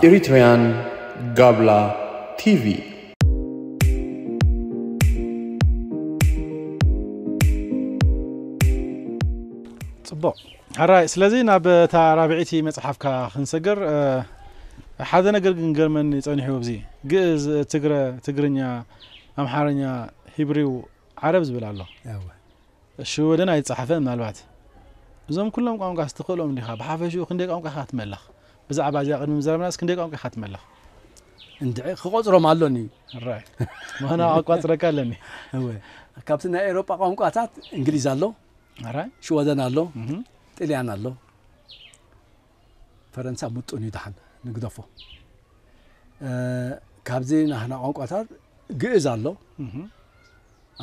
Eritrean Gabla TV. ፅቡቕ ሕራይ ስለዚ ናብ እታ ራብዒቲ መፅሓፍካ ክንሰገር እ፣ ሓደ ነገር ግን ገርመኒ ፀኒሑ ኣብዚ ግእዝ ትግረ ትግርኛ ኣምሓርኛ ሂብሪው ዓረብ ዝብል ኣሎ ሽወደን ኣይተጻሕፈን ምናልባት እዞም ኩሎም ቋንቋስ ትኽእሎም ዲኻ ብሓፈሽኡ ክንደይ ቋንቋ ኢኻ ትመልኽ ብዛዕባ እዚኣ ቅድሚ ምዝራብናስ ክንደይ ቋንቋ ኢኻ ትመልኽ እንድዒ ክቆጽሮም ኣሎኒ ራይ ማና ኣቋጽረካ ኣለኒ እወ ካብቲ ናይ ኤሮጳ ቋንቋታት እንግሊዝ ኣሎ ራይ ሽወደን ኣሎ ጥልያን ኣሎ ፈረንሳ ምጡን እዩ ድሓን ንግደፎ ካብዚ ናህና ቋንቋታት ግእዝ ኣሎ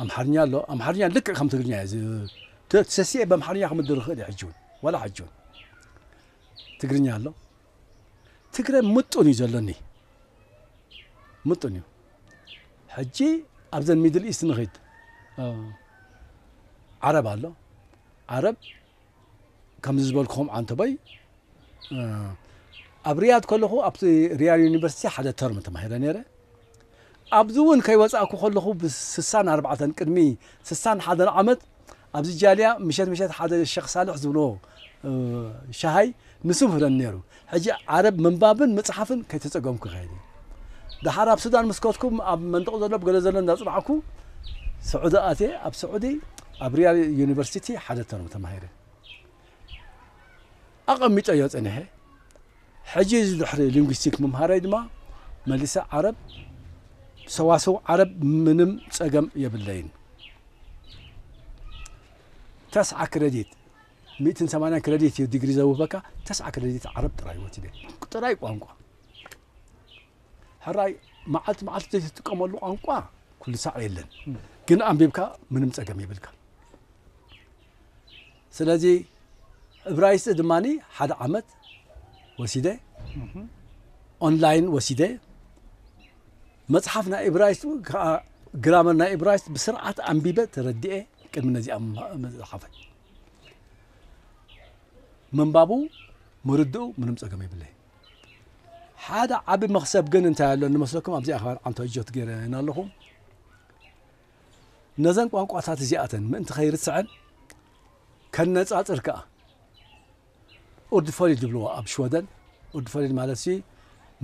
ኣምሓርኛ ኣሎ ኣምሓርኛ ልክዕ ከም ትግርኛ እዩ ሰሲዐ በምሓርኛ ክምድር ይኽእል እዩ ሕጂ እውን ዋላ ሕጂ እውን ትግርኛ ኣሎ ትግረ ምጡን እዩ ዘሎኒ ምጡን እዩ ሕጂ ኣብዘን ሚድል ኢስት ንኽድ ዓረብ ኣሎ ዓረብ ከምዚ ዝበልክኹም ዓንተቦይ ኣብ ሪያድ ከለኹ ኣብቲ ሪያድ ዩኒቨርሲቲ ሓደ ተርም ተማሂረ ነይረ ኣብዚ እውን ከይወፃእኩ ከለኹ ብስሳን ኣርባዕተን ቅድሚ ስሳን ሓደን ዓመት ኣብዚ ጃልያ ምሸት ምሸት ሓደ ሸክ ሳልሕ ዝብሎ ሸሃይ ንሱ ምህረኒ ነይሩ ሕጂ ዓረብ ምንባብን ምጽሓፍን ከይተጸገምኩ ክኸይድ እየ። ደሓር ኣብ ሱዳን ምስ ከድኩ ኣብ መንደቕ ዘሎ ብገለ ዘሎ እንዳጽናዕኩ ስዑዲ ኣትየ ኣብ ስዑዲ ኣብ ሪያድ ዩኒቨርሲቲ ሓደ ተርም ተማሂረ ኣቐሚጠዮ ጸኒሐ። ሕጂ እዚ ድሕሪ ሊንጉስቲክ ምምሃረይ ድማ መሊሰ ዓረብ ሰዋስው ዓረብ ምንም ጸገም የብለይን። ተስዓ ክረዲት ሚእትን ሰማንያን ክረዲት እዩ ዲግሪ ዘውህበካ ተስዓ ክረዲት ዓረብ ጥራይ ወቲደ ጥራይ ቋንቋ ሕራይ መዓልቲ መዓልቲ ዘይትጥቀመሉ ቋንቋ ኩሉ ሳዕ የለን ግን ኣንቢብካ ምንም ጸገም ይብልካ ስለዚ እብራይስጢ ድማ ሓደ ዓመት ወሲደ ኦንላይን ወሲደ መጽሓፍ ናይ እብራይስጥ ከኣ ግራመር ናይ እብራይስጥ ብስርዓት ኣንቢበ ተረዲኤ ቅድሚ ነዚኣ መጽሓፈይ ምንባቡ ምርድኡ ምንም ጸገም የብለይ ሓደ ዓቢ መኽሰብ ግን እንታይ ኣሎ ንመስለኩም ኣብዚኣ ካብ ዓንቶ እጆት ገይረ ኣለኹ ነዘን ቋንቋታት እዚኣተን ምእንቲ ከይርስዐን ከነጻጽር ከኣ ኡርድፈሪድ ዝብልዎ ኣብ ሽወደን ኡርድፈሪድ ማለት ሲ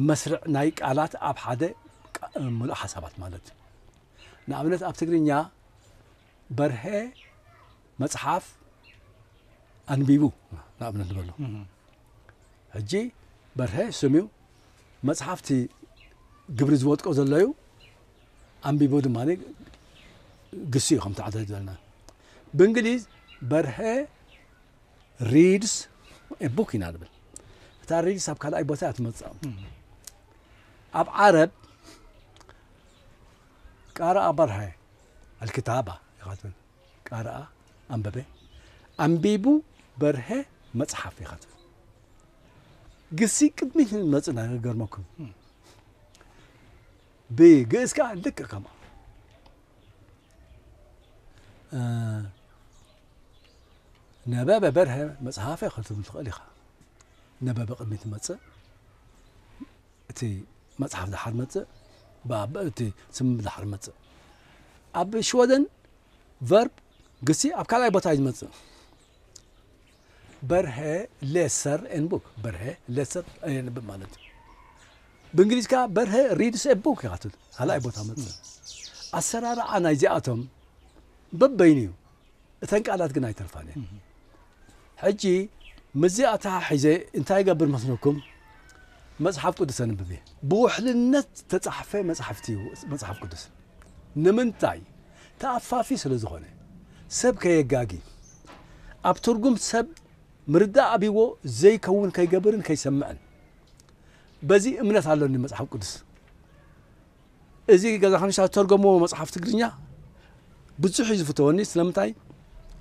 መስርዕ ናይ ቃላት ኣብ ሓደ ምሉእ ሓሳባት ማለት እዩ ንኣብነት ኣብ ትግርኛ በርሀ መጽሓፍ ኣንቢቡ ንኣብነት ንበሎ ሕጂ በርሀ ስም እዩ መጽሓፍቲ ግብሪ ዝወድቆ ዘሎ እዩ ኣንቢቡ ድማ ግሲ እዩ ከም ተዓዘ ዘለና ብእንግሊዝ በርሀ reads a book ኢና ንብል እታ reads ኣብ ካልኣይ ቦታ እያ ትመጽእ ኣብ ዓረብ ቃረኣ በርሀ ኣልክታባ ኢኻ ትብል ቃረኣ ኣንበበ ኣንቢቡ በርሀ መጽሓፍ ኢኻ ትብል ግሲ ቅድሚት ንመጽእ ገርመኩም ብግእዝ ከዓ ልክ ከምኡ ነበበ በርሀ መጽሓፈ ክትብል ትኽእል ኢኻ ነበበ ቅድሚ ትመጽእ እቲ መጽሓፍ ድሓር መጽእ እቲ ስም ድሓር መጽእ ኣብ ሽወደን ቨርብ ግሲ ኣብ ካልኣይ ቦታ እዩ ዝመጽእ በርሀ ሌሰር ኤን ቡክ በርሀ ሌሰር የንብብ ማለት እዩ ብእንግሊዝ ከዓ በርሀ ሪድስ ኤ ቡክ ይካትት ካልኣይ ቦታ መጽእ ኣሰራርዓ ናይዚኣቶም በበይኑ እዩ እተን ቃላት ግን ኣይተርፋን እየን ሕጂ ምስዚ ኣተሓሒዘ እንታይ ይገብር መስለኩም መጽሓፍ ቅዱስ ኣንብብ እየ ብውሕልነት ዝተጻሕፈ መጽሓፍቲ እዩ መጽሓፍ ቅዱስ ንምንታይ ተኣፋፊ ስለ ዝኾነ ሰብ ከየጋጊ ኣብ ትርጉም ሰብ ምርዳእ ኣብዎ ዘይከውን ከይገብርን ከይሰምዕን በዚ እምነት ኣለኒ መጽሓፍ ቅዱስ እዚ ገዛኸንሻ ዝተርጎምዎ መጽሓፍ ትግርኛ ብዙሕ እዩ ዝፍተወኒ ስለምንታይ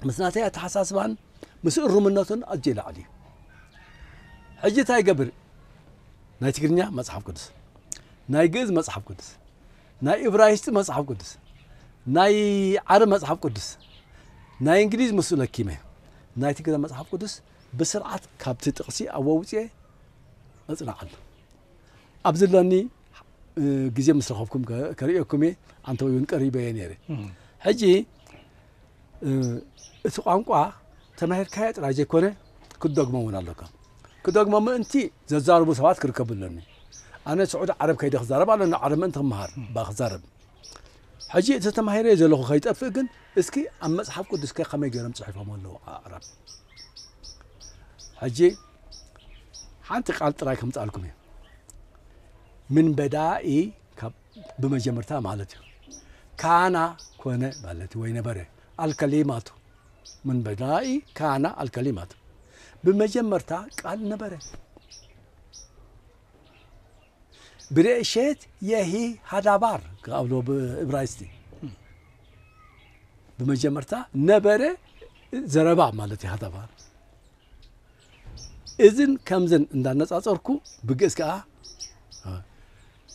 ምስ ናተይ ኣተሓሳስባን ምስ እሩምነቱን ኣዝዩ ይለዓል እዩ ሕጂ እንታይ ይገብር ናይ ትግርኛ መጽሓፍ ቅዱስ ናይ ግእዝ መጽሓፍ ቅዱስ ናይ እብራይስጢ መጽሓፍ ቅዱስ ናይ ዓረብ መጽሓፍ ቅዱስ ናይ እንግሊዝ ምስ ለኪመ ናይ ትግረ መጽሓፍ ቅዱስ ብስርዓት ካብቲ ጥቕሲ ኣወውፅኤ እፅናዕ ኣሎ ኣብዚ ለኒ ግዜ ምስ ረኸብኩም ከርእየኩም እየ ኣንተ ወይ እውን ቀሪበ እየ ነይረ ሕጂ እቲ ቋንቋ ተማሂርካዮ ጥራይ ዘይኮነ ክትደግሞ እውን ኣለካ ክደግሞ ምእንቲ ዘዛርቡ ሰባት ክርከቡ ኣለኒ ኣነ ስዑዲ ዓረብ ከይደ ክዛረብ ኣለኒ ዓረብ ምእንቲ ክመሃር ባ ክዛረብ ሕጂ እቲ ተማሂረ ዘለኹ ከይጠፍእ ግን እስኪ ኣብ መፅሓፍ ቅዱስከ ከመይ ገይሮም ፅሒፎም ኣለዉ ኣዕራብ ሕጂ ሓንቲ ቃል ጥራይ ከምጻልኩም እየ ምን በዳ ኢ ብመጀመርታ ማለት እዩ ካና ኮነ ማለት ወይ ነበረ ኣልከሊማቱ ምን በዳ ኢ ካና ኣልከሊማቱ ብመጀመርታ ቃል ነበረ ብሬእሸት የሂ ሃዳባር ካብሎ ብእብራይስቲ ብመጀመርታ ነበረ ዘረባ ማለት እዩ ሃዳባር እዝን ከምዝን እንዳነጻጸርኩ ብግእዝ ከኣ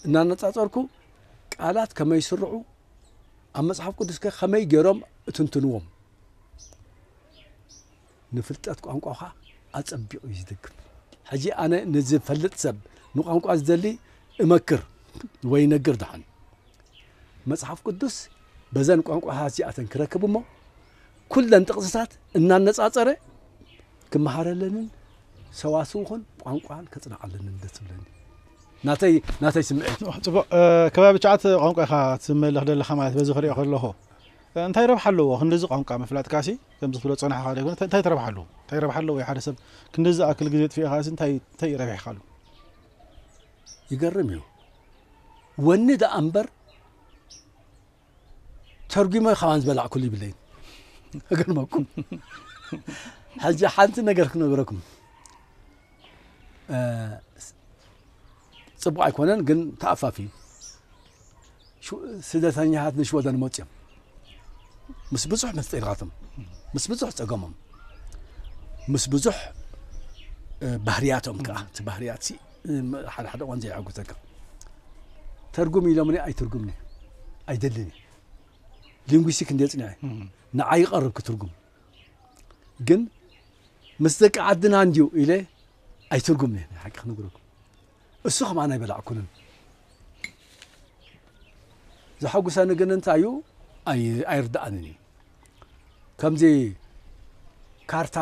እናነጻጸርኩ ቃላት ከመይ ይስርዑ ኣብ መጽሓፍ ቅዱስ ከ ከመይ ገይሮም እትንትንዎም ንፍልጠት ቋንቋኻ ኣጸቢቑ እዩ ዝድግፍ ሕጂ ኣነ ንዝፈልጥ ሰብ ንቋንቋ ዝደሊ እመክር ወይ ነግር ደሓን መጽሓፍ ቅዱስ በዘን ቋንቋታት እዚኣተን ክረክብ እሞ ኩለን ጥቕስታት እናነጻጸረ ክመሃረለንን ሰዋስውኹን ቋንቋን ከጽንዓለንን ደስ ዝብለኒ ናተይ ናተይ ስምዒት እዩ ፅቡቅ ከባቢ ቻዓት ቋንቋ ኢኻ ትመለኽ ደለኻ ማለት በዚ ክሪኦ ከለኹ እንታይ ረብሓ ኣለዎ ክንዲዚ ቋንቋ ምፍላጥ ካሲ ከምዚ ክትብሎ ፀናሕኻ ደይኮነ እንታይ ትረብሓ ኣለዎ እንታይ ረብሓ ኣለዎ ሓደ ሰብ ክንዲዚ ኣክል ግዜ ጥፊእኻ ሲ እንታይ እንታይ ረቢሕካ ኣሎ ይገርም እዩ ወኒ ደኣ እምበር ተርጒመ ካባን ዝበላዕኩሉ ይብለይን እገርመኩም ሕጂ ሓንቲ ነገር ክነገረኩም ፅቡቅ ኣይኮነን ግን ተኣፋፊ እዩ ስደተኛታት ንሽወደን መፁ እዮም ምስ ብዙሕ ምስጢራቶም ምስ ብዙሕ ፀገሞም ምስ ብዙሕ ባህርያቶም ከዓ እቲ ባህርያት ሓደ ሓደ እዋን ዘየሐጉሰካ ተርጉም ኢሎምኒ ኣይትርጉምኒ ኣይደልን እየ ሊንጉስቲክ እንደ ፅንዐ ንዓይ ይቐርብ ክትርጉም ግን ምስ ደቂ ዓድና እንድዩ ኢለ ኣይትርጉምኒ ናይ ሓቂ ክነግረኩም እሱ ከማን ኣይበላዕኩንን ዘሐጉሰኒ ግን እንታይ እዩ ኣይርድኣንን እዩ ከምዚ ካርታ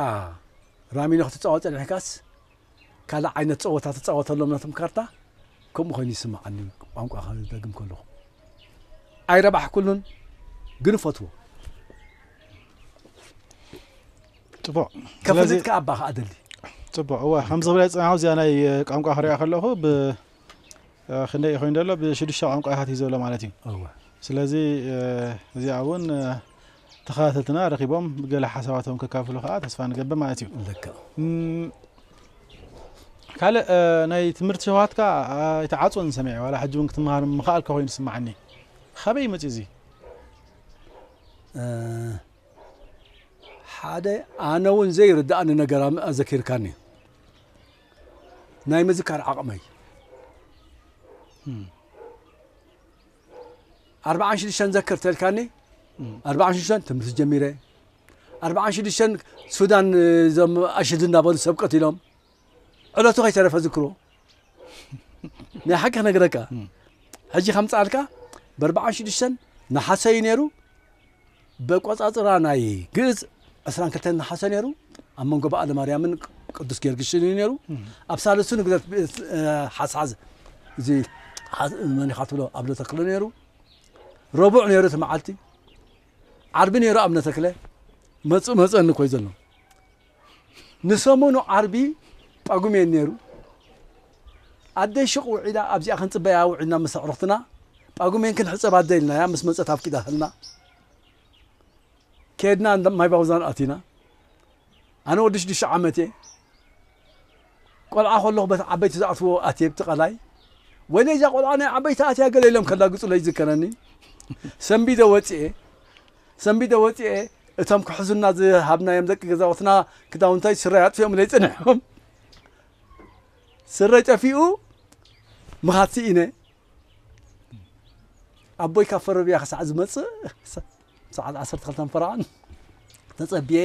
ራሚኖ ክትፃወጥ ፀኒሕካስ ካልእ ዓይነት ጸወታ ትጻወተሎም ናቶም ካርታ ከምኡ ኮይኑ ይስማዓኒ ቋንቋ ክደግም ከለኩ ኣይረባሕኩሉን ግን እፈትዎ ጽቡቅ ከፍልጥ ከኣ ኣባ ከኣ ደሊ ጽቡቅ እወ ከምዚ ክብለ ጽናሁ እዚኣ ናይ ቋንቋ ክሪኣ ከለኹ ብ ክንደይ ኮይኑ ዘሎ ብሽዱሽተ ቋንቋታት እዩ ዘሎ ማለት እዩ እወ ስለዚ እዚኣ እውን ተኸታተልትና ረኺቦም ገለ ሓሳባቶም ከካፍሉ ከዓ ተስፋ ንገብር ማለት እዩ ካልእ ናይ ትምህርቲ ሸውሃትካ ኣይተዓፅወን ሰሚዐ ዋላ ሕጂ እውን ክትምሃር ምኽኣልካ ኮይኑ ስማዓኒ ካበይ መፅኡ እዚ ሓደ ኣነ እውን ዘይርዳእኒ ነገር ኣዘኪርካኒ ናይ ምዝካር ዓቕመይ ኣርብዓን ሽዱሽተን ዘክር ተልካኒ ኣርብዓን ሽዱሽተን ትምህርቲ ጀሚረ ኣርብዓን ሽዱሽተን ሱዳን እዞም ኣሽዱ እናበሉ ሰብ ቀቲሎም ዕለቱ ከይተረፈ ዝክሮ ናይ ሓቂ ክነግረካ ሕጂ ከምፅኣልካ በርብዓን ሽዱሽተን ንሓሰ እዩ ነይሩ በቆጻጽራ ናይ ግእዝ ዕስራን ክልተን ነሓሰ ነይሩ። ኣብ መንጎ በዓለ ማርያምን ቅዱስ ጊዮርጊስን እዩ ነይሩ። ኣብ ሳልሱ ንግደት ሓስሓዝ እዚ መን ኢኻ ትብሎ ኣብነ ተክለ ነይሩ። ረቡዕ ነይሩ እቲ መዓልቲ ዓርቢ ነይሩ ኣብነ ተክለ መፁ መፀኒ ኮይ ዘሎ ንሰሙኑ ዓርቢ ጳጉሜን ነይሩ። ኣደይ ሹቕ ውዒላ ኣብዚኣ ክንጽበያ ውዒልና ምስ ኣዕሩኽትና፣ ጳጉሜን ክንሕጸብ ኣደ ኢልናያ ምስ መጸት ኣፍቂዳትልና። ከድና እንዳ ማይ ባውዛን ኣቲና። ኣነ ወዲ ሽዱሽተ ዓመት'የ። ቆልዓ ከለኹ በቲ ዓበይቲ ዝኣትዎ ኣትየ ኣብቲ ቀላይ ወይለይ እዛ ቆልዓ ናይ ዓበይቲ ኣትያ ገለ ኢሎም ከላግጹለይ ይዝከረኒ ሰንቢደ ወጽኤ ሰንቢደ ወጽኤ እቶም ክሕዙና ዝሃብናዮም ደቂ ገዛውትና ክዳውንታይ ስረይ ኣጥፊኦምለይ ጽኒሖም ስረይ ጠፊኡ ምኻድ ስኢነ ኣቦይ ካብ ፈረብያ ክሳዕ ዝመጽእ ሰዓት ዓሰርተ ክልተን ፈረቓን ተጸብየ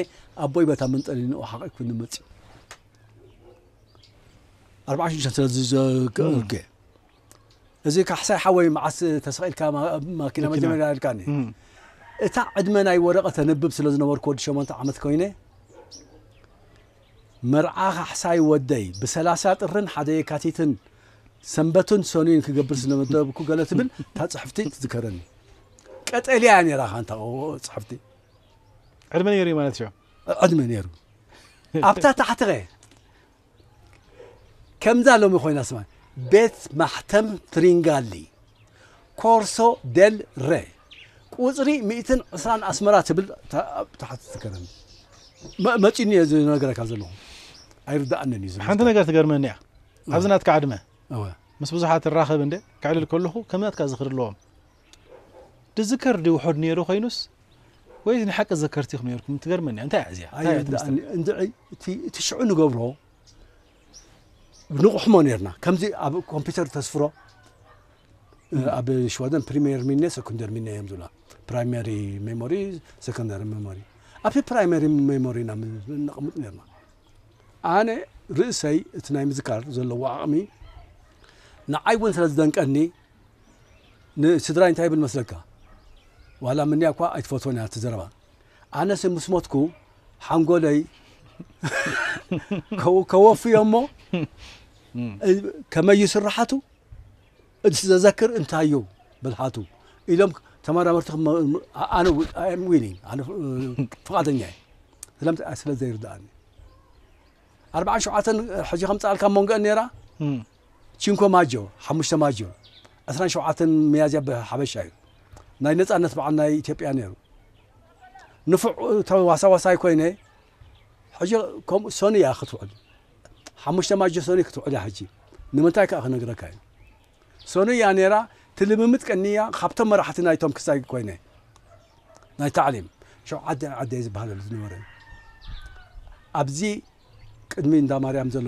ኣቦይ በታ መንጠሊንኡ ሓቂኩኒ መጽዩ ኣርባዓ ሽዱሽተ ስለዝዘከርኩ እዚ ካሕሳይ ሓወይ መዓስ ተሰቂልካ ማኪና መጀመርያ ኢልካኒ እታ ዕድመ ናይ ወረቐት ተንብብ ስለ ዝነበርኩ ወዲ ሸሞንተ ዓመት ኮይነ መርዓ ካሕሳይ ወደይ ብሰላሳ ጥርን ሓደ የካቲትን ሰንበትን ሰኑይን ክገብር ስለመደብኩ ገለ ትብል እታ ፅሕፍቲ ትዝከረኒ ቀጠልያ እያ ነራ ካንታ ጽሕፍቲ ዕድመ ነይሩ እዩ ማለት እዩ ዕድመ ነይሩ ኣብታ ታሕትኸ ከምዛ ሎሚ ኮይና ስማ ቤት ማሕተም ትሪንጋሊ ኮርሶ ደል ረ ቁፅሪ 120 ኣስመራ ትብል ታሕቲ ትከረኒ መፂኒ እየ ዝነገረካ ዘለኹ ኣይርዳእንን እዩ ሓንቲ ነገር ትገርመኒ እያ ኣብዚ ናትካ ዕድመ እወ ምስ ብዙሓት እራኸብ እንደ ከዕልል ከለኹ ከምናትካ ዝኽሪ ኣለዎም ድዝከር ድዩ ውሑድ ነይሩ ኮይኑስ ወይስ ንሓቂ ዘከርቲኹም ነይርኩም ትገርመኒ እያ እንታይ እዚኣ እንታይ እያ እቲ ምስጢር? ኣየዳእኒ እንድዒ እቲ እቲ ሽዑ ንገብሮ ንቑሕሞ ነርና ከምዚ ኣብ ኮምፒውተር ተስፍሮ እ፣ ኣብ ሽወደን ፕሪሜር ሚነ ሰኩንደር ሚነ እዮም ዝብላ ፕራይመሪ ሜሞሪ ሰኮንዳሪ ሜሞሪ ኣብቲ ፕራይመሪ ሜሞሪና ነቕምጥ ነርና ኣነ ርእሰይ እቲ ናይ ምዝካር ዘለዎ ዓቕሚ ንዓይ እውን ስለ ዝደንቀኒ ንስድራይ እንታይ ይብል መስለካ ዋላ ምንያ እኳ ኣይትፈትዎን እያ እቲ ዘረባ ኣነስ ምስ ሞትኩ ሓንጎለይ ከወፍዮ እሞ ከመይ ስራሓቱ እዚ ዘዘክር እንታይ እዩ ብልሓቱ ኢሎም ተመራመርቲ ኣነ ዊሊንግ ኣነ ፍቓደኛ እየ ስለምንታይ ስለ ዘይርድኣኒ ኣርባዓን ሸውዓተን ሕጂ ከምፅኣልካ መንጎአን ነይራ ቺንኮ ማጆ ሓሙሽተ ማጆ ዕስራን ሸውዓተን መያዝያ ብሓበሻ እዩ ናይ ነፃነት በዓል ናይ ኢትዮጵያ ነይሩ ንፉዕ ተዋሳዋሳይ ኮይነ ሕጂ ከምኡ ሰኑ እያ ክትውዕል ሓሙሽተ ማጆ ሰኑይ ክትውዕል እያ ሕጂ ንምንታይ ከኣ ክነግረካ እየ ሰኑይ እያ ነይራ እቲ ልምምድ ቀንያ ካብቶም መራሕቲ ናይቶም ክሳይ ኮይነ ናይ ታዕሊም ሸውዓተ ዓደይ ዝበሃለሉ ዝነበረ እዩ ኣብዚ ቅድሚ እንዳ ማርያም ዘሎ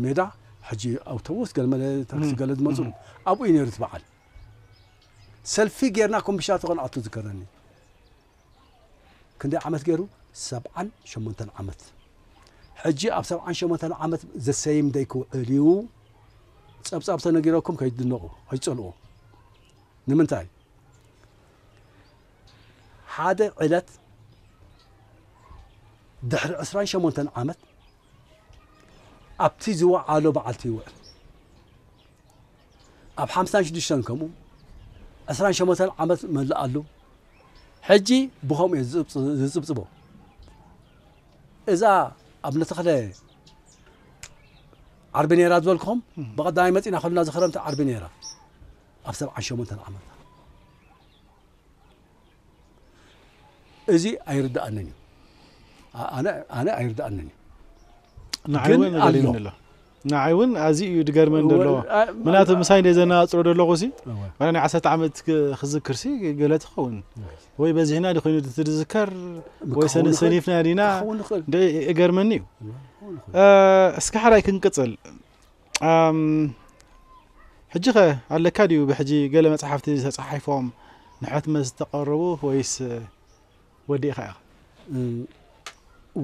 ሜዳ ሕጂ ኣውቶቡስ ገለመለ ታክሲ ገለ ዝመፅሉ ኣብኡ እዩ ነይሩ እቲ በዓል ሰልፊ ጌርና ኮምቢሻ ተኾንኣቱ ዝከረኒ ክንደይ ዓመት ገሩ ሰብዓን ሸሞንተን ዓመት ሕጂ ኣብ ሰብዓን ሸሞንተን ዓመት ዘሰይም ደይ ክውዕል እዩ ጸብጻብ ተነጊረኩም ከይትድነቑ ኣይትጸልዎ ንምንታይ ሓደ ዕለት ድሕሪ ዕስራን ሸሞንተን ዓመት ኣብቲ ዝወዓሎ በዓልቲ ይውዕል ኣብ ሓምሳን ሽዱሽተን ከምኡ ዕስራን ሸሞንተን ዓመት መላኣሉ ሕጂ ብኸምኡ እየ ዝጽብጽቦ። እዛ ኣብነ ተኽለ ዓርቢ ነይራ ዝበልክኹም ብቐዳማይ መፂና ከሉና ዝኽረምቲ ዓርቢ ነይራ ኣብ ሰብዓን ሸሞንተን ዓመታ እዚ ኣይርዳእንን እዩ ኣነ ኣይርዳእንን እዩ ግን ኣሎ ንዓይ ውን ኣዝዩ እዩ ድገርመኒ ደሎ ምናቱ ምሳይ እንደ ዘነጻጽሮ ደለኹ ሲ ዋላ ናይ ዓሰርተ ዓመት ክዝክር ሲ ገለ ትኸውን ወይ በዚሕና ዲ ኮይኑ ትዝከር ወይ ሰኒፍና ዲና ገርመኒ እዩ እስከ ሓራይ ክንቅጽል ሕጂ ከ ኣለካ ድዩ ብሕጂ ገለ መጽሓፍቲ ተጻሒፎም ንሕትመት ዝተቐረቡ ወይስ ወዲእኻ ኢኻ?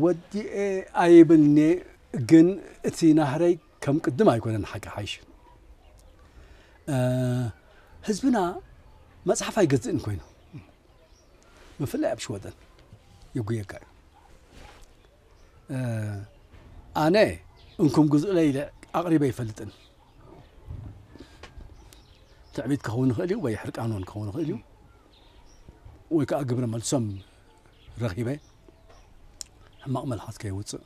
ወዲኤ ኣይብልን'የ ግን እቲ ናህረይ ከም ቅድም ኣይኮነን ሓቂ ሓይሽ ህዝብና መጽሓፍ ኣይገዝእን ኮይኑ ብፍላይ ኣብ ሽወደን የጉየካ እዩ ኣነ እንኩም ግዝኡለይ ኢለ ኣቕሪበ ይፈልጥን ትዕቢት ክኸውን ይኽእል እዩ ወይ ሕርቃን ክኸውን ይኽእል እዩ ወይ ከኣ ግብረ መልሶም ረኺበ ሕማቕ መልሓስ ከየውጽእ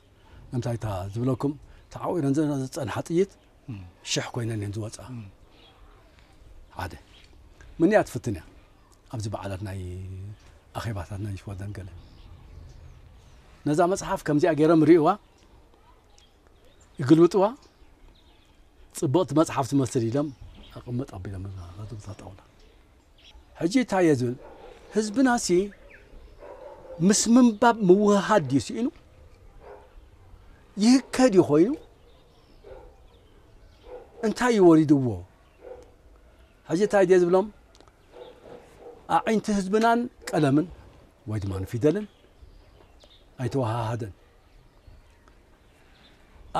ንምንታይ እታ ዝብለኩም ተዓዊረን ዝጸንሓ ጥይት ሽሕ ኮይነን እየን ዝወጽኣ ሓደ ምን እያ ትፍትን እያ ኣብዚ በዓላት ናይ ኣኼባታት ናይ ሽወደን ገለ ነዛ መጽሓፍ ከምዚኣ ገይሮም ርእዋ ይግልብጥዋ ጽቡቕቲ መጽሓፍ ትመስል ኢሎም ኣቕምጥ ኣቢሎም ጣውላ ሕጂ እታየ ዝብል ህዝብናሲ ምስ ምንባብ ምውህሃድ ድዩ ስኢኑ ይህከ ድዩ ኮይኑ እንታይ እዩ ወሪድዎ ሕጂ እንታይ ድየ ዝብሎም ኣዒንቲ ህዝብናን ቀለምን ወይ ድማ ፊደልን ኣይተወሃሃደን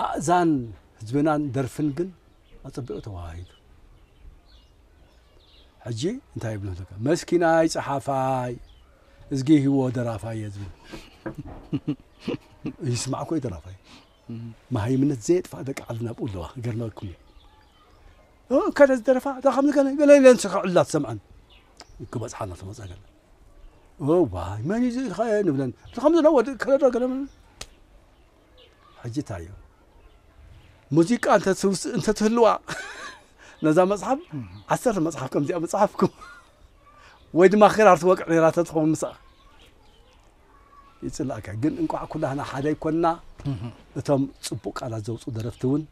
ኣእዛን ህዝብናን ደርፍን ግን ኣጸቢቑ ተወሃሂዱ። ሕጂ እንታይ ይብሉ ኣለካ መስኪናይ ጸሓፋይ እዝጊ ሂዎ ደራፋይ እየ ዝብል ይስማዕ እኮ ደራፋይ መሃይምነት ዘየጥፋእ ደቂ ዓድና ብኡ ኣለዋ ክገርመኩም እዩ ከደ ዝደረፋ እዛ ከምዚ ገለ ገለ ኢለን ስክዕላ ትሰምዐን ክበፅሓ እናተመፀ ገለ ዋይ መን እዩ ዝኸ ንብለን እዚ ከምዚ ዶ ወዲ ከለዶ ገለ ሕጂ እንታይ እዩ ሙዚቃ እንተትህልዋ ነዛ መጽሓፍ ዓሰርተ መጽሓፍ ከምዚኣ ምጽሓፍኩ ወይ ድማ ክራር ትወቅዕ ነራ ተትኸውን ምሳኣ ይጽላእካ ግን እንቋዕ ኩላህና ሓደ ይኮንና እቶም ጽቡቅ ቃላት ዘውፁ ደረፍቲ እውን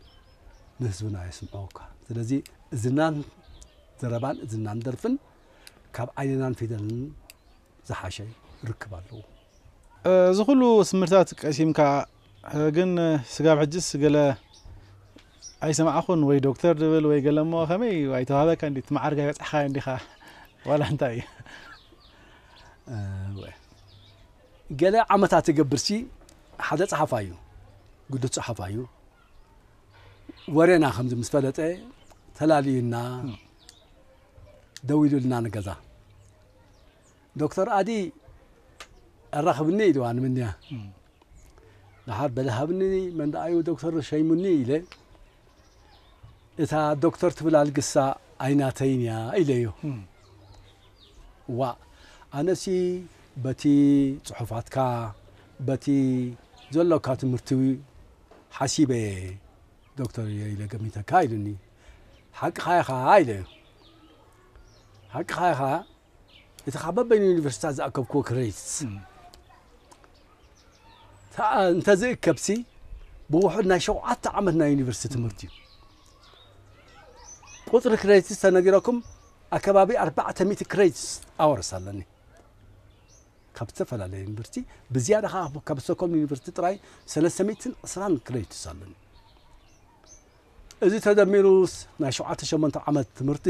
ንህዝብና የስምዑካ ስለዚ እዝናን ዘረባን እዝናን ደርፍን ካብ ዓይንናን ፊደልን ዝሓሸ ርክብ ኣለዎ። እዚ ኩሉ ትምህርታት ቀሲምካ ግን ስጋብ ሕጅስ ገለ ኣይሰማዕኩን ወይ ዶክተር ድብል ወይ ገለ እሞ ከመይ እዩ ኣይተዋህበካ እንዲ ትመዓርግ ኣይበጻሕካዮ እንዲኻ ዋላ እንታይ እዩ ገለ ዓመታት እገብርሲ ሓደ ጸሓፋይ እዩ ግዱስ ጸሓፋይ እዩ ወሬና ከምዚ ምስ ፈለጠ ተላልዩና ደዊሉልና ንገዛ ዶክተር ኣዲ ኣራኽብኒ ኢልዋ ንምንያ ደሓር በለ ሃብኒ መን ደኣዩ ዶክተር ሸይሙኒ ኢለ እታ ዶክተር ትብል ኣልግሳ ኣይናተይን እያ ኢለዮ ዋእ ኣነሲ በቲ ጽሑፋትካ በቲ ዘሎካ ትምህርቲ ሓሲበ እየ ዶክተር እዮ ኢለ ገሚተካ ኢሉኒ ሓቅኻ ኢኻ ኢለዮ ሓቅኻ ኢኻ እቲ ካብ በበይኑ ዩኒቨርሲታት ዝኣከብክዎ ክሬዲትስ እንተዝእከብሲ ብውሑድ ናይ ሸውዓተ ዓመት ናይ ዩኒቨርሲቲ ትምህርቲ እዩ ቁፅሪ ክሬዲትስ ተነጊረኩም ኣከባቢ ኣርባዕተ ሚእቲ ክሬዲትስ ኣወርስ ኣለኒ ካብ ዝተፈላለየ ዩኒቨርሲቲ ብዝያዳ ከዓ ካብ ስቶኮልም ዩኒቨርሲቲ ጥራይ ሰለስተ ሚእትን ዕስራን ክሬዲትስ ኣለኒ እዚ ተደሚሩስ ናይ ሸውዓተ ሸሞንተ ዓመት ትምህርቲ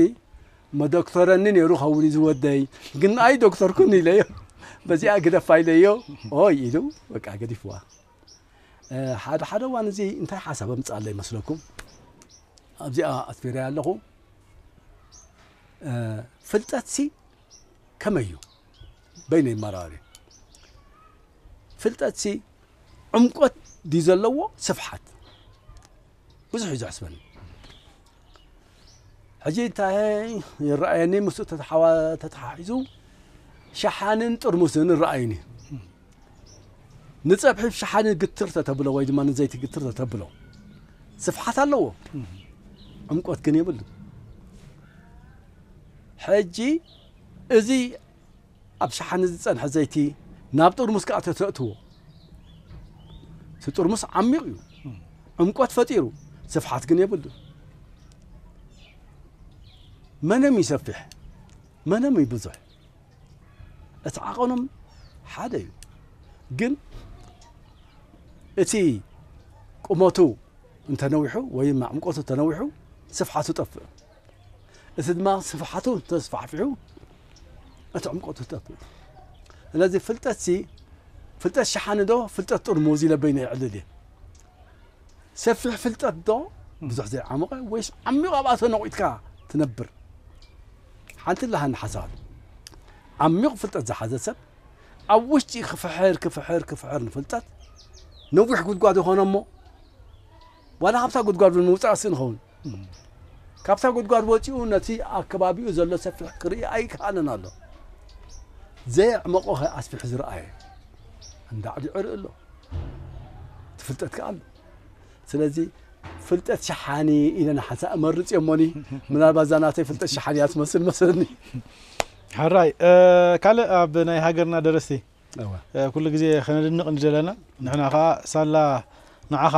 መዶክተረኒ ነይሩ ኸውን እዩ ዝወደይ ግን ኣይ ዶክተርኩን ኢለዮ በዚኣ ግደፋ ኢለዮ ኦይ ኢሉ በቃ ገዲፍዋ ሓደ ሓደ እዋን እዚ እንታይ ሓሳብ ኣምፅኣለ ይመስለኩም ኣብዚኣ ኣትፊረያ ኣለኹ ፍልጠትሲ ከመይ እዩ በይነይ መራሪ ፍልጠት ሲ ዕምቆት ድዩ ዘለዎ ስፍሓት ብዙሕ እዩ ዘሕስበኒ ሕጂ እንታይ ይረኣየኒ ምስ ተተሓሒዙ ሸሓንን ጥርሙስን ይረኣዩኒ ንፀብሒ ሸሓኒ ግትር ተተብሎ ወይ ድማ ንዘይቲ ግትር ተተብሎ ስፍሓት ኣለዎ ዕምቆት ግን የብሉ ሕጂ እዚ ኣብ ሸሓኒ ዝጸንሐ ዘይቲ ናብ ጥርሙስ ከኣ ተተእትዎ እቲ ጥርሙስ ዓሚቕ እዩ ዕምቆት ፈጢሩ ስፍሓት ግን የብሉ መነም እዩ ሰፊሕ መነም እዩ ብዙሕ እቲ ዓቐኖም ሓደ እዩ ግን እቲ ቁመቱ እንተነዊሑ ወይም ዕምቆቱ ተነዊሑ ስፍሓቱ ጠፍእ እቲ ድማ ስፍሓቱ እንተተስፋሕፊሑ እቲ ዕምቆቱ ተት ስለዚ ፍልጠት ሲ ፍልጠት ሸሓኒ ዶ ፍልጠት ጥርሙዝ ኢለ በይነ ይዕልል እየ ሰፊሕ ፍልጠት ዶ ብዙሕ ዘይዓመቐ ወይስ ዓሚቕ ኣብኣ ተነቑጥካ ትነብር ሓንቲ ላሃኒ ሓሳባት ዓሚቕ ፍልጠት ዝሓዘ ሰብ ኣብ ውሽጢ ክፍሕር ክፍሕር ክፍሕር ንፍልጠት ነዊሕ ጉድጓድ ይኾነ እሞ ዋላ ካብታ ጉድጓድ እውን ምውጻእ ስእን ይኸውን። ካብታ ጉድጓድ ወጺኡ ነቲ ኣብ ከባቢኡ ዘሎ ሰፊሕ ክርኢ ኣይከኣለን ኣሎ። ዘየዕመቖኸ ኣስፊሑ ዝረኣየ እንዳዕዲ ዕርኢ ኣሎ። እቲ ፍልጠት ከኣ ኣሎ። ስለዚ ፍልጠት ሸሓኒ ኢለ ንሓንሳእ እመርጽ እየ እሞኒ ምናልባት እዛ ናተይ ፍልጠት ሸሓኒ እያ ትመስል መስለኒ። ሕራይ ካልእ ኣብ ናይ ሃገርና ደረስቲ ኩሉ ግዜ ከነድንቅ ንደለና ንሕና ከኣ ሳላ ንዓኻ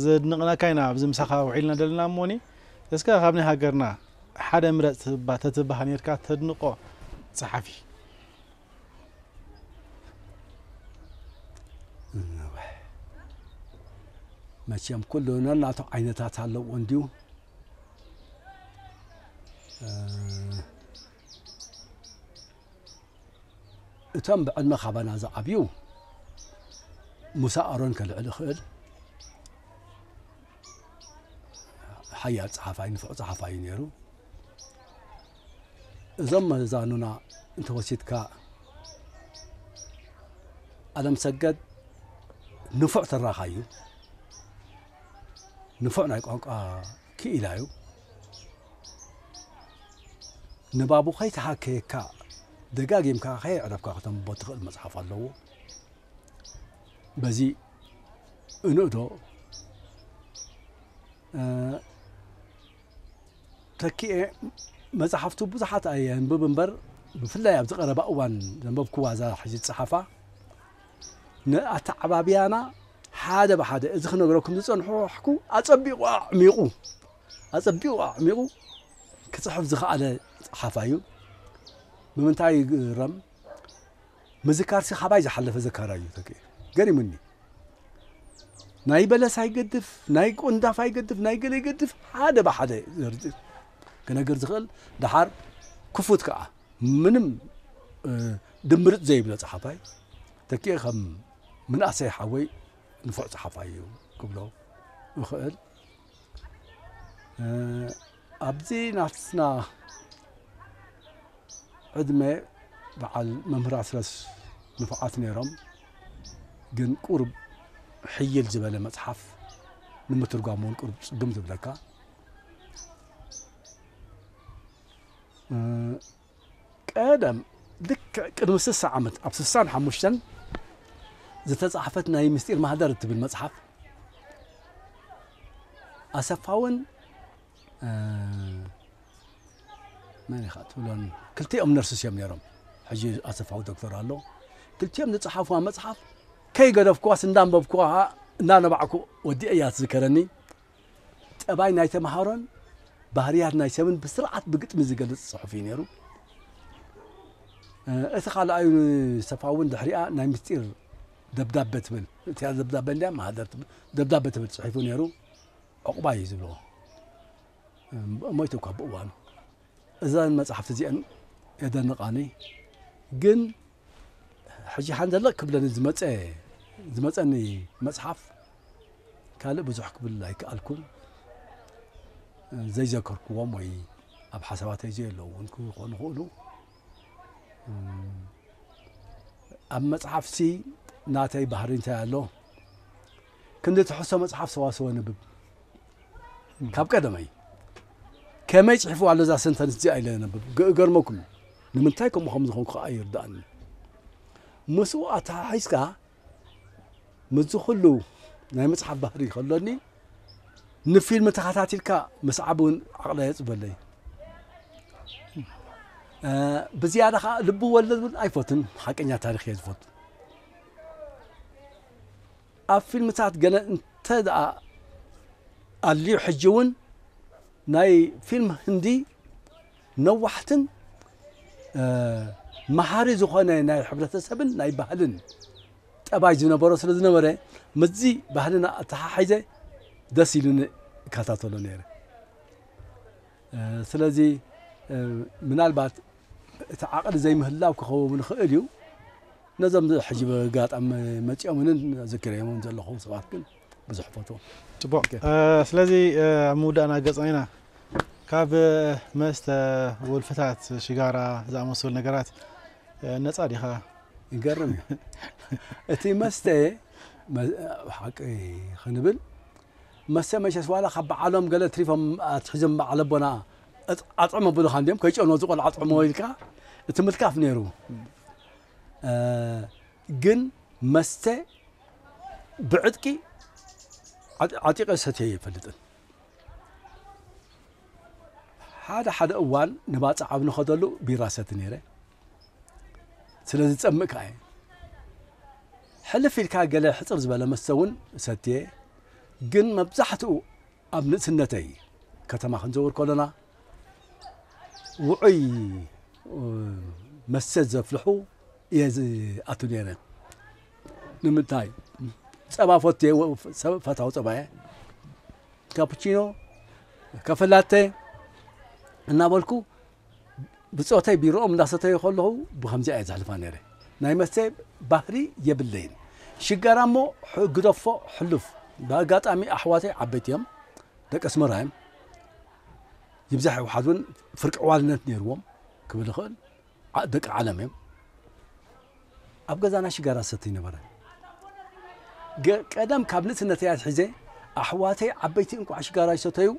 ዘድንቅናካ ኢና ኣብዚ ምሳኻ ውዒልና ደለና እሞኒ እስከ ካብ ናይ ሃገርና ሓደ ምረጽ ተትበሃል ኔርካ ተድንቆ ጸሓፊ መቸም ኩሉ ነናቱ ዓይነታት ኣለዎ እንዲዩ እቶም ብዕድመ ካባና ዝዓብዩ ሙሳ ኣሮን ከልዕል ይኽእል ሓያል ጸሓፋይ ንፉዕ ጸሓፋይ እዩ ነይሩ እዞም መዛኑና እንተወሲድካ ኣለም ሰገድ ንፉዕ ትራኻ እዩ ንፉዕ ናይ ቋንቋ ክኢላ'ዩ፣ ንባቡ ከይተሃከየካ ደጋጊምካ ከየዕረፍካ ክተንብቦ እትኽእል መጽሓፍ ኣለዎ። በዚ እንእዶ ተኪኤ መጽሓፍቱ ብዙሓት ኣየንብብ እምበር ብፍላይ ኣብዚ ቀረባ እዋን ዘንበብክዋ እዛ ሕጂ ዝጸሓፋ ንኣተዓባብያና ሓደ ብሓደ እዚ ክነግረኩም ዝጸንሖሕኩ ኣጸቢቑ ኣዕሚቑ ኣጸቢቑ ኣዕሚቑ ክጽሕፍ ዝኸኣለ ጸሓፋይ እዩ ብምንታይ ይግረም ምዝካርሲ ካባይ ዝሓለፈ ዘካራ እዩ ተክ ገሪሙኒ ናይ በለስ ኣይገድፍ ናይ ቆንዳፍ ኣይገድፍ ናይ ገለ ይገድፍ ሓደ ብሓደ ክነግር ዝኽእል ድሓር ክፉት ከዓ ምንም ድምርጽ ዘይብሎ ጸሓፋይ ተኪኤ ከም ምንኣሰይ ሓወይ ንፉዕ ጸሓፋይ እዩ ክብሎ እኽእል ኣብዚ ናትና ዕድመ በዓል መምህር ኣስረስ ንፉዓት ነይሮም ግን ቁርብ ሕይል ዝበለ መጽሓፍ ንምትርጓም እውን ቁርብ ጽግም ዝብለካ ቀደም ልክዕ ቅድሚ ስሳ ዓመት ኣብ ስሳን ሓሙሽተን ዝተጻሕፈት ናይ ምስጢር ማህደር እትብል መጽሓፍ ኣሰፋውን መን ኢኻ ትብሎን ክልቲኦም ነርሱስ እዮም ነይሮም ሕጂ ኣሰፋዊ ዶክተር ኣሎ ክልቲኦም ዝጸሓፍዋ መጽሓፍ ከይገደፍኩዋስ እንዳንበብኩዋ እናነባዕኩ ወዲኤ እያ ትዝከረኒ ጠባይ ናይ ተምሃሮን ባህርያት ናይ ሰብን ብስርዓት ብግጥሚ ዝገልጽ ጽሑፍ እዩ ነይሩ። እቲ ካልኣዩ ንሰፋ እውን ድሕሪኣ ናይ ምስጢር ደብዳበ ትብል እቲኣ ደብዳበ እንዲያ ማህደር ደብዳበ ትብል ጽሒፉ ነይሩ። ዕቑባ እዩ ዝብልዎ ሞይቱ እኳ ብእዋኑ እዘን መጽሓፍቲ እዚአን የደንቓኒ ግን ሕጂ ሓንደለ ክብለኒ ዝመጸ ዝመጸኒ መጽሓፍ ካልእ ብዙሕ ክብል ኣይከኣልኩን ዘይዘከርክዎም ወይ ኣብ ሓሳባተይ ዘየለዉ እውን ክኾኑ ይኽእሉ ኣብ መጽሓፍሲ ናተይ ባህሪ እንታይ ኣሎ ክንዲ ትሕዝቶ መጽሓፍ ሰዋስው ኣንብብ። ካብ ቀደመይ ከመይ ጽሒፍዋ ኣሎ እዛ ሰንተንስ እዚኣ ኢለ ኣንብብ። ገእገርመኩም እዩ። ንምንታይ ከምኡ ከም ዝኾንኩ ከኣ ኣይርድኣንን። ምስኡ ኣተሓሒዝካ ምስዚ ኩሉ ናይ መጽሓፍ ባህሪ ከሎኒ ንፊልም ተኸታቲልካ ምስዓብ እውን ዓቕለይ የጽበለይ ብዝያዳ ከዓ ልቢ ወለድ እውን ኣይፈትን ሓቀኛ ታሪክ እየ ዝፈቱ ኣብ ፊልምታት ገለ እንተ ደኣ ኣልዩ ሕጂ እውን ናይ ፊልም ህንዲ ነዋሕትን መሃሪ ዝኾነ ናይ ሕብረተሰብን ናይ ባህልን ጠባይ ዝነበሮ ስለ ዝነበረ ምስዚ ባህልና ኣተሓሒዘ ደስ ኢሉኒ እከታተሎ ነይረ። ስለዚ ምናልባት እቲ ዓቕሊ ዘይምህላው ክኸውም ንኽእል እዩ። ነዞም ሕጂ ብጋጣሚ መጺኦምንን ዝክረዮምን ዘለኹ ሰባት ግን ብዙሕ ፈትዎም ጽቡቅ ስለዚ ኣብ ምውዳእና ገጽና ኢና ካብ መስተ ወልፍታት ሽጋራ ዝኣመሰሉ ነገራት ነጻ ዲኻ ይገርም እዩ እቲ መስተ ሓቂ ክንብል መሰ መቸስ ዋላ ካብ በዓሎም ገለ ትሪፎም ኣትሒዞም በዓል ኣቦና ኣጥዕም ኣብሉኻ እንዲዮም ከይጨኑ እዚ ቆልዓ ኣጥዕምዎ ኢልካ እቲ ምልካፍ ነይሩ ግን መስተ ብዕጥቂ ዓጢቐ ሰትዮ ኣይፈልጥን ሓደ ሓደ እዋን ንባፅዕ ኣብ ንኸደሉ ቢራ ሰቲ ነይረ ስለ ዝጸምእ ከኣ እየ። ሕልፍ ኢልካ ገለ ሕጽር ዝበለ መስተ እውን እሰትየ፣ ግን መብዛሕትኡ ኣብ ንእስነተይ ከተማ ክንዘውር ከሎና ውዑይ መስተ ዘፍልሑ እየ ዝኣቱ ነይረ። ንምንታይ ጸባ ፈትየ፣ ፈታዊ ጸባ እየ። ካፑቺኖ፣ ካፈላተ እናበልኩ ብጾተይ ቢሮኦም እንዳሰተዩ ከለኹ ብከምዚኣ እየ ዘሕልፋ ነይረ ናይ መስተ ባህሪ የብለይን ሽጋራ እሞ ግደፎ ሕሉፍ ብኣጋጣሚ ኣሕዋተይ ዓበይቲ እዮም ደቂ ኣስመራ እዮም ይብዛሕ ይውሓድ እውን ፍርቂ ዕዋልነት ነይርዎም ክብል ይኽእል ደቂ ዓለም እዮም ኣብ ገዛና ሽጋራ ሰትይ ነበረ ቀደም ካብ ንእስነተይ ኣትሒዘ ኣሕዋተይ ዓበይቲ እንቋዕ ሽጋራ ይሰተዩ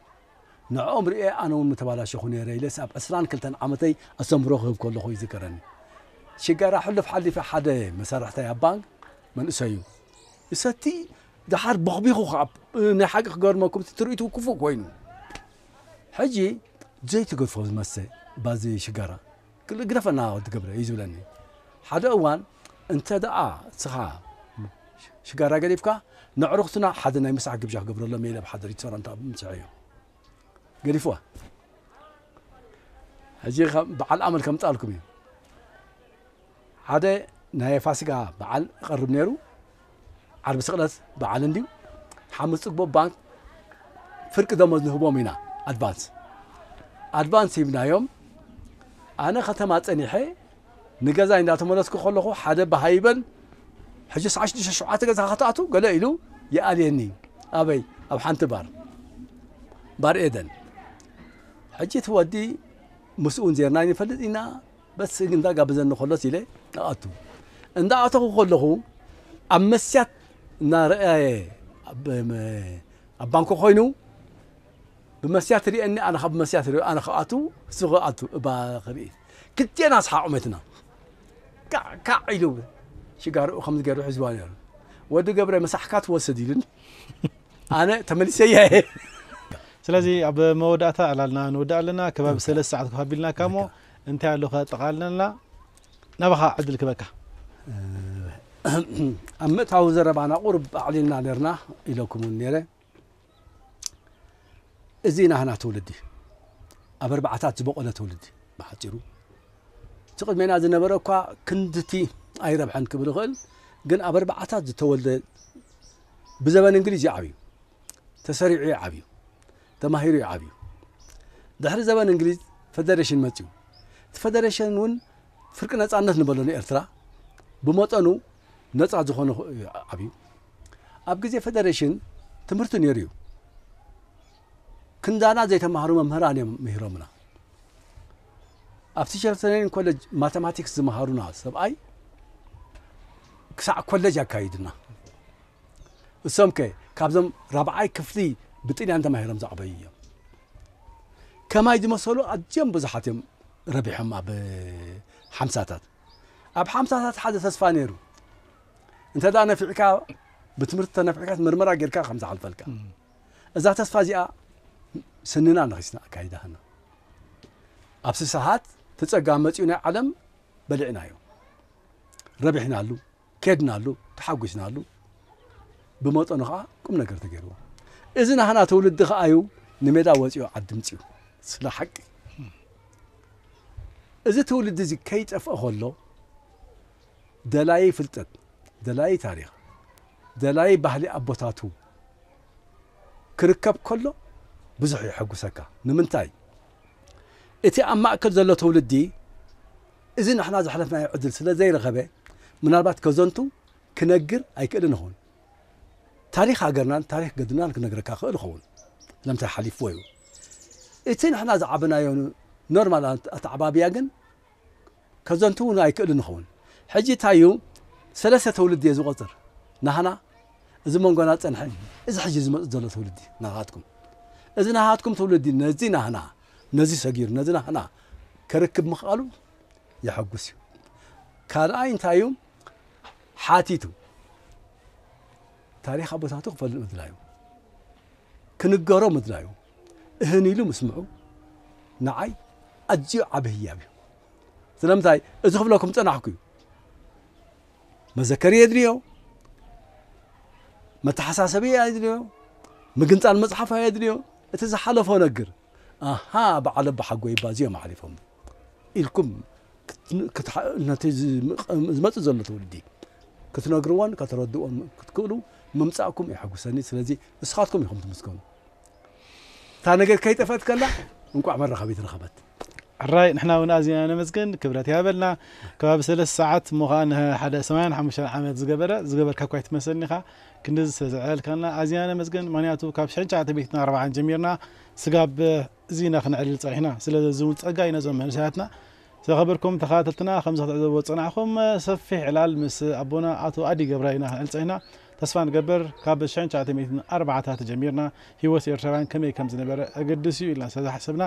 ንዕኦም ርእየ ኣነ ውን ምተባላሸኹ ነይረ ኢለስ ኣብ ዕስራን ክልተን ዓመተይ ኣስተምህሮ ክህብ ከለኹ ይዝከረኒ። ሽጋራ ሕሉፍ ሓሊፈ ሓደ መሳርሕታይ ኣብ ባንክ መንእሰዩ ይሰቲ ደሓር ቦኽቢኹ ከኣ ናይ ሓቂ ክገርመኩም እቲ ትርኢቱ ክፉእ ኮይኑ ሕጂ ዘይትገድፎ መስተ ባዚ ሽጋራ ግደፈና ወዲ ገብረ እዩ ዝብለኒ ሓደ እዋን እንተ ደኣ ንስኻ ሽጋራ ገዲፍካ፣ ነዕሩኽትና ሓደ ናይ ምሳሕ ግብዣ ክገብረሎም እየ ኢለ ኣብ ሓደሪት ሰላምታ ምሰሐዮ። ገዲፍዋ። ሕጂ በዓል ኣመል ከምጽኣልኩም እዩ። ሓደ ናይ ፋሲጋ በዓል እቐርብ ነይሩ። ዓርቢ ስቕለት በዓል እንድዩ ሓሙስ ፅግቦ ባንክ ፍርቂ ደሞዝ ንህቦም ኢና ኣድቫንስ ኣድቫንስ ሂብናዮም ኣነ ከተማ ፀኒሐ ንገዛይ እንዳተመለስኩ ከለኹ ሓደ በሃይበን ሕጂ ሰዓ ሽዱሽተ ሸውዓተ ገዛ ከተኣቱ ገለ ኢሉ ይኣልየኒ ኣበይ ኣብ ሓንቲ ባር ባር ኤደን ሕጂ እቲ ወዲ ምስኡን ዜርና ይፈልጥ ኢና በቲ ስእሊ እንዳ ጋበዘኒ ከሎስ ኢለ እኣቱ። እንዳ ኣተኹ ከለኹ ኣብ መስትያት እና ረኣየ ኣብ ባንኮ ኮይኑ ብመስትያት ሪእኒ ኣነ ካብ መስትያት ሪኦ ኣነ ክኣቱ እሱ ክኣቱ እባ ክርኢ ክልቴና ስሓቅ መትና ካዕ ካዕ ኢሉ ሽጋርኡ ከም ዝገሩ ሕዝዋ ነሩ ወዲ ገብረ መሳሕካ ትወስድ ኢሉን ኣነ ተመሊሰ እየ ስለዚ ኣብ መወዳእታ ዕላልና ንወዳእ ኣለና ከባቢ ሰለስተ ሰዓት ክሃቢልናካ እሞ እንታይ ኣሎ ከጠቓልለልና ናባኻ ዕድል ክበካ። ኣብ ምእታዊ ዘረባና ቁርብ ኣዕሊልና ነርና ኢለኩም እውን ነይረ እዚ ናህና ትውልዲ ኣብ ኣርባዕታት ዝበቆለ ትውልዲ ብሓፂሩ እቲ ቅድሜና ዝነበረ እኳ ክንድቲ ኣይረብሐን ክብል ይኽእል ግን ኣብ ኣርባዕታት ዝተወልደ ብዘበን እንግሊዝ ይዓብዩ ተሰሪዑ ይዓብዩ ተማሂሩ እዩ ዓብዩ። ድሕሪ ዘበን እንግሊዝ ፈደረሽን መፅዩ። እቲ ፈደረሽን እውን ፍርቂ ነፃነት ንበሎ ንኤርትራ ብመጠኑ ነፃ ዝኾነ እዩ ዓብዩ። ኣብ ግዜ ፈደረሽን ትምህርቲ ነይሩ እዩ። ክንዳና ዘይተማህሩ መምህራን እዮም ምሂሮምና። ኣብ ቲቸር ትሬኒንግ ኮለጅ ማተማቲክስ ዝመሃሩና ሰብኣይ ክሳዕ ኮለጅ ኣካይዱና። እሶምከ ካብዞም ራብዓይ ክፍሊ ብጥልያን ተማሂሮም ዝዓበዩ እዮም። ከማይ ዝመሰሉ ኣዝዮም ብዙሓት እዮም ረቢሖም ኣብ ሓምሳታት። ኣብ ሓምሳታት ሓደ ተስፋ ነይሩ እንተ ነፊዕካ ብትምህርቲ ተነፊዕካ ምርመራ ጌርካ ከም ዝሓልፈልካ እዛ ተስፋ እዚኣ ስንና ነኺስና ኣካይዳህና ኣብ ስሳሓት ትጸጋ መጺኡ ናይ ዓለም በሊዕናዮ ረቢሕናሉ ከድናሉ ተሓጒስናሉ ብመጠኑ ከኣ ቁም ነገር ተገይርዎ እዚ ናህና ትውልዲ ከኣ እዩ ንሜዳ ወፂኡ ዓዲ ምፅኡ ስለ ሓቂ እዚ ትውልዲ እዚ ከይጠፍአ ከሎ ደላዪ ፍልጠት ደላዪ ታሪኽ ደላዪ ባህሊ ኣቦታቱ ክርከብ ከሎ ብዙሕ የሐጉሰካ ንምንታይ እቲ ኣብ ማእከል ዘሎ ትውልዲ እዚ ንሕና ዘሕለፍናዮ ዕድል ስለ ዘይረኸበ ምናልባት ከዘንቱ፣ ክነግር፣ ኣይክእልን እኸውን። ታሪኽ ሃገርናን ታሪኽ ገድልናን ክነግረካ እኽእል እኸውን። ስለምንታይ ሓሊፍዎ እዩ። እቲ ንሕና ዝዓበናዮ ኖርማል ኣተዓባብያ ግን ከዘንቱ እውን ኣይክእልን እኸውን። ሕጂ እንታይ እዩ ሰለስተ ትውልዲ እየ ዝቆፅር ናህና እዚ መንጎና ዝፀንሐ እዚ ሕጂ ዝመፅእ ዘሎ ትውልዲ ናኻትኩም እዚ ናኻትኩም ትውልዲ ነዚ ናህና ነዚ ሰጊሩ ነዚ ናህና ከርክብ ምኽኣሉ የሐጉስ እዩ። ካልኣይ እንታይ እዩ ሓቲቱ ታሪኽ ኣቦታቱ ክፈልጥ ምድላዩ ክንገሮ ምድላዩ እህን ኢሉ ምስምዑ ንዓይ ኣዝዩ ዓብ ህያብ እዩ። ስለምንታይ እዚ ክብለኩም ፀናሕኩ እዩ መዘከሪ የድልዮ መተሓሳሰቢ የድልዮ ምግንፃል መፅሓፍ የድልዮ እቲ ዝሓለፎ ነግር ኣሃ በዓል ኣባሓጎይባ እዚኦም ኣሕሊፎም ኢልኩም ነቲ ዝመጽእ ዘሎ ትውልዲ ክትነግርዎን ከተረድእዎን ክትክእሉ ምምጻእኩም የሐጉሰኒ ስለዚ ንስኻትኩም ኢኹም ትምስገኑ እታ ነገር ከይጠፍአት ከላ እንቋዕ መራኸቢት ረኸበት። ሕራይ ንሕና እውን ኣዚና ነመስግን ክብረት ይሃበልና ከባቢ ሰለስተ ሰዓት እሞ ከኣ ንሓደ ሰማንያን ሓሙሽተን ዓመት ዝገበረ ዝገበርካ እኳ ኣይትመስልን ኢኻ ክንድዚ ስለ ዘዕለልካና ኣዚና ነመስግን ምክንያቱ ካብ ሽሕን ትሽዓተ ሚእትን ኣርብዓን ጀሚርና ስጋብ እዚ ኢና ክነዕልል ጸኒሕና ስለዚ እዚ እውን ጸጋ እዩ ነዞም መንእሰያትና ዝኸበርኩም ተኸታተልትና ከምዚ ክትዕዘብዎ ዝጸናሕኩም ሰፊሕ ዕላል ምስ ኣቦና ኣቶ ኣዲ ገብረ ኢና ክንዕል ጸኒሕና ተስፋ ንገብር ካብ ሽሕን ትሽዓተ ሚእትን ኣርባዓታት ጀሚርና ህይወት ኤርትራውያን ከመይ ከም ዝነበረ ኣገድስ እዩ ኢልና ስለ ዝሓሰብና